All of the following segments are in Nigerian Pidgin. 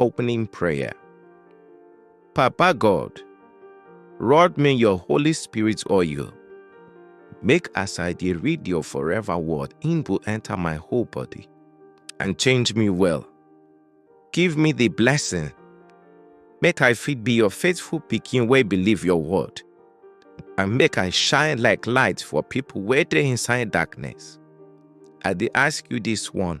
Opening prayer. Papa God, rod me your Holy Spirit oil. Make as I dey read your forever word, im go enter my whole body and change me well. Give me the blessing. Make I fit be your faithful pikin wey believe your word. And make I shine like light for people wey dey inside darkness. I dey ask you this one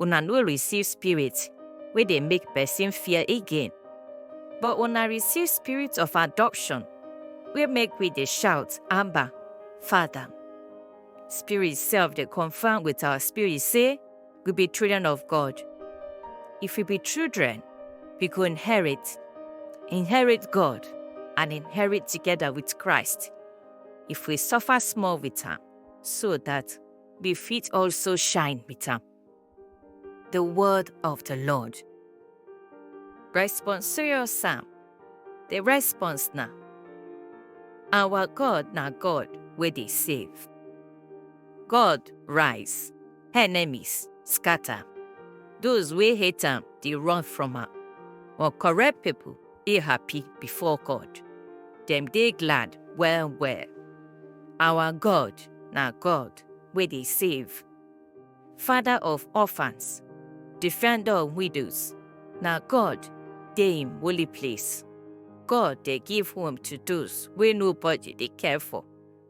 una no receive spirit wey dey make person fear again, but una receive spirit of adoption wey make we dey shout, Abba, Father. Spirit sef dey confirm with our spirit say we be children of God. If we be children, we go inherit, inherit God and inherit together with Christ if we suffer small with am, so that we fit also shine with am. The word of the Lord. Responsorial Psalm. The response na Our God na God wey dey save. God rise, enemies scatter. Those wey hate am dey run from am, but correct people dey happy before God. Dem dey glad well well. Our God na God wey dey save. Father of orphans, defender of widows, na God dey im holy place. God dey give home to those wey nobody dey care for.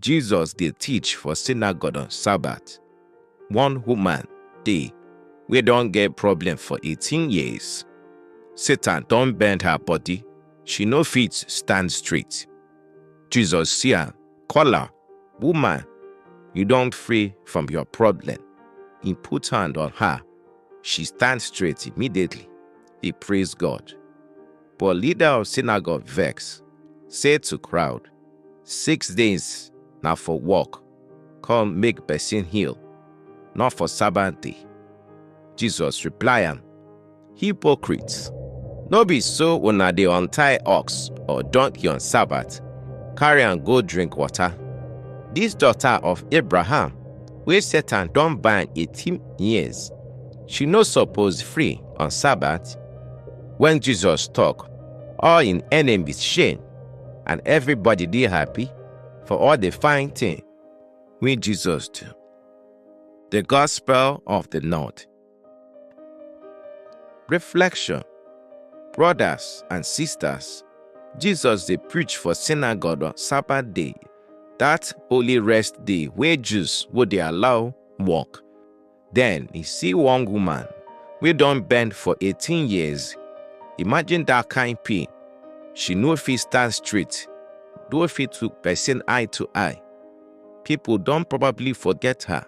Jesus dey teach for synagogue on Sabbath. One woman dey wey don get problem for 18 years. Satan don bend her body, she no fit stand straight. Jesus see am, call am, Woman, you don free from your problem. He put hand on her. She stand straight immediately. He praise God. But leader of synagogue vex, say to crowd, Six days na for work, come make person heal, not for Sabbath day. Jesus reply am, Hypocrites! No be so una dey untie ox or donkey on Sabbath, carry am go drink water. This daughter of Abraham, wey Satan don bind 18 years, she no suppose free on Sabbath? When Jesus talk, all im enemies shame. and everybody dey happy for all the fine thing wey Jesus do. The Gospel of the North. Reflection Brothers and sisters, Jesus dey preach for synagogue on Sabbath day, that holy rest day wey Jews go dey allow work. Then he see one woman wey don bend for 18 years. Imagine that kind pain. She no fit stand straight, no fit to person eye to eye. People don probably forget her,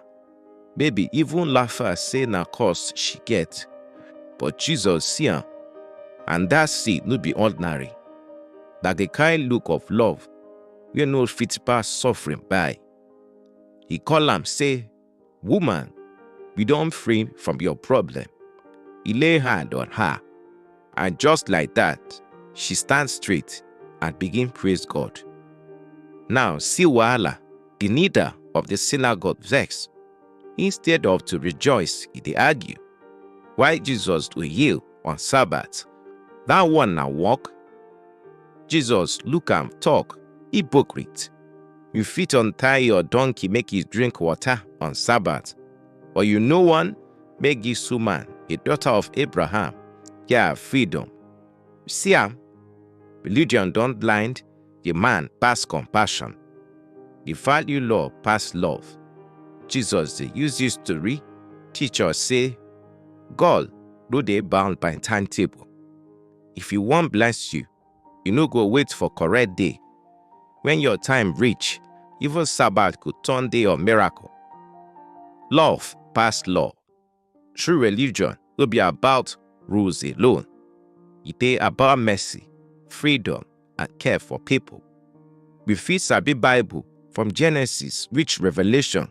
maybe even laugh her say na cause she get. But Jesus see am, and that see no be ordinary. Na the kind look of love wey no fit pass suffering by. He call am say, Woman, we don free from your problem. He lay hand on her, and just like that, she stand straight and begin praise God. Now, see Wahala, the leader of the synagogue, vex. Instead of to rejoice, he dey argue. Why Jesus do heal on Sabbath? That one na work Jesus look am talk, Hypocrite! You fit untie your donkey make e drink water on Sabbath, but you no wan make this woman, a daughter of Abraham, get her freedom. See am, religion don blind the man pass compassion. The value law pass love. Jesus dey use this story teach us say God no dey bound by timetable. If you wan bless you, you no go wait for correct day. When your time reach, even Sabbath go turn day of miracle. Love pass law. True religion no be about rules alone. E dey about mercy, freedom, and care for people. We fit sabi Bible from Genesis reach Revelation,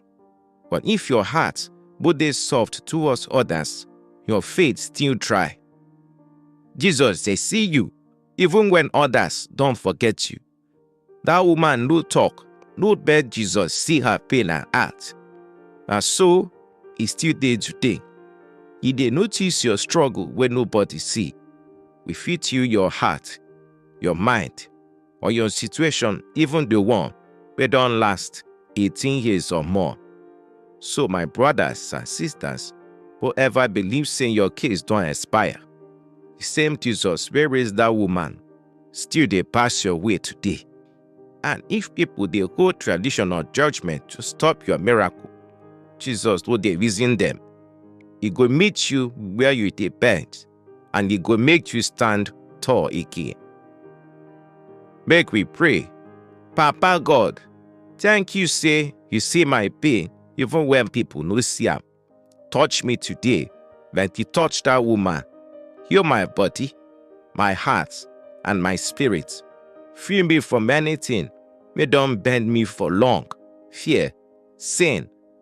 But if your heart go dey soft towards others, your faith still try. Jesus dey see you even when others don forget you. That woman no talk, no beg Jesus see her pain and heart. Na so e still dey today. E dey notice your struggle wey nobody see. We fit heal your heart, your mind, or your situation, even the one wey don last 18 years or more. So my brothers and sisters, whoever believe say your case don expire, the same Jesus wey raise that woman still dey pass your way today. And if people dey hold tradition or judgment to stop your miracle, Jesus no dey reason them. He go meet you where you dey bend and e go make you stand tall again. Make we pray. Papa God, thank you say you see my pain even when people no see am. Touch me today like you touch that woman. Heal my body, my heart, and my spirit. Free me from anything wey don bend me for long, fear, sin,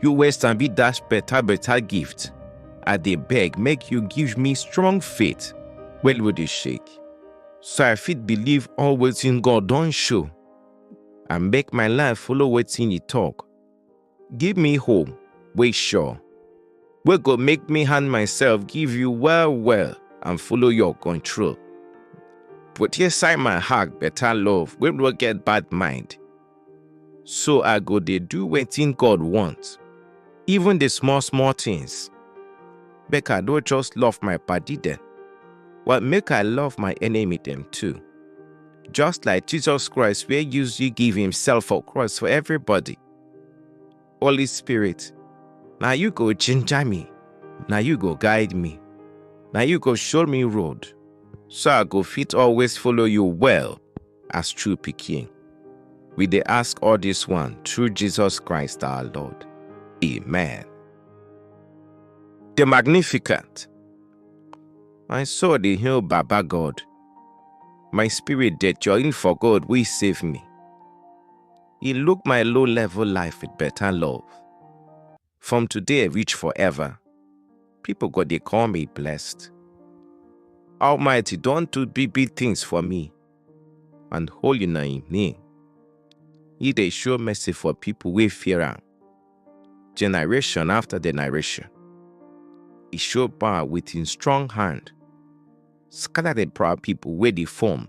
You waste and be dash better better gift. I dey beg make you give me strong faith when we dey shake. So I fit believe all wetin God don show and make my life follow wetin he talk. Give me hope wey sure wey go make me hand myself give you well well and follow your control. Put inside my heart better love wey no get bad mind. So I go dey do wetin God want, even the small small things. Make I no just love my padi dem, but make I love my enemy dem too. Just like Jesus Christ wey use you give himself for cross for everybody. Holy Spirit, na you go ginger me, na you go guide me, na you go show me road, so I go fit always follow you well. as true pikin. We dey ask all this one through Jesus Christ our Lord. Amen. The Magnificent. My soul dey hail Baba God. My spirit dey join for God wey save me. He look my low level life with better love. From today reach forever, people go dey call me blessed. Almighty don do big big things for me, and holy na im name. He dey show mercy for people wey fear am, generation after generation. He show power with im strong hand, scatter the proud people wey dey form.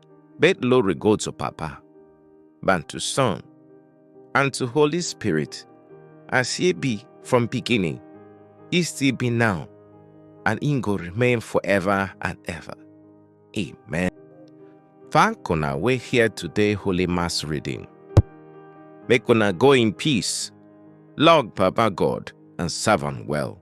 Bet glory go to Papa, and to Son, and to Holy Spirit, as ye be from beginning, ye still be now, and he go remain forever and ever. Amen. Thank una we here today Holy Mass reading. Make una go in peace, love Papa God, and serve him well.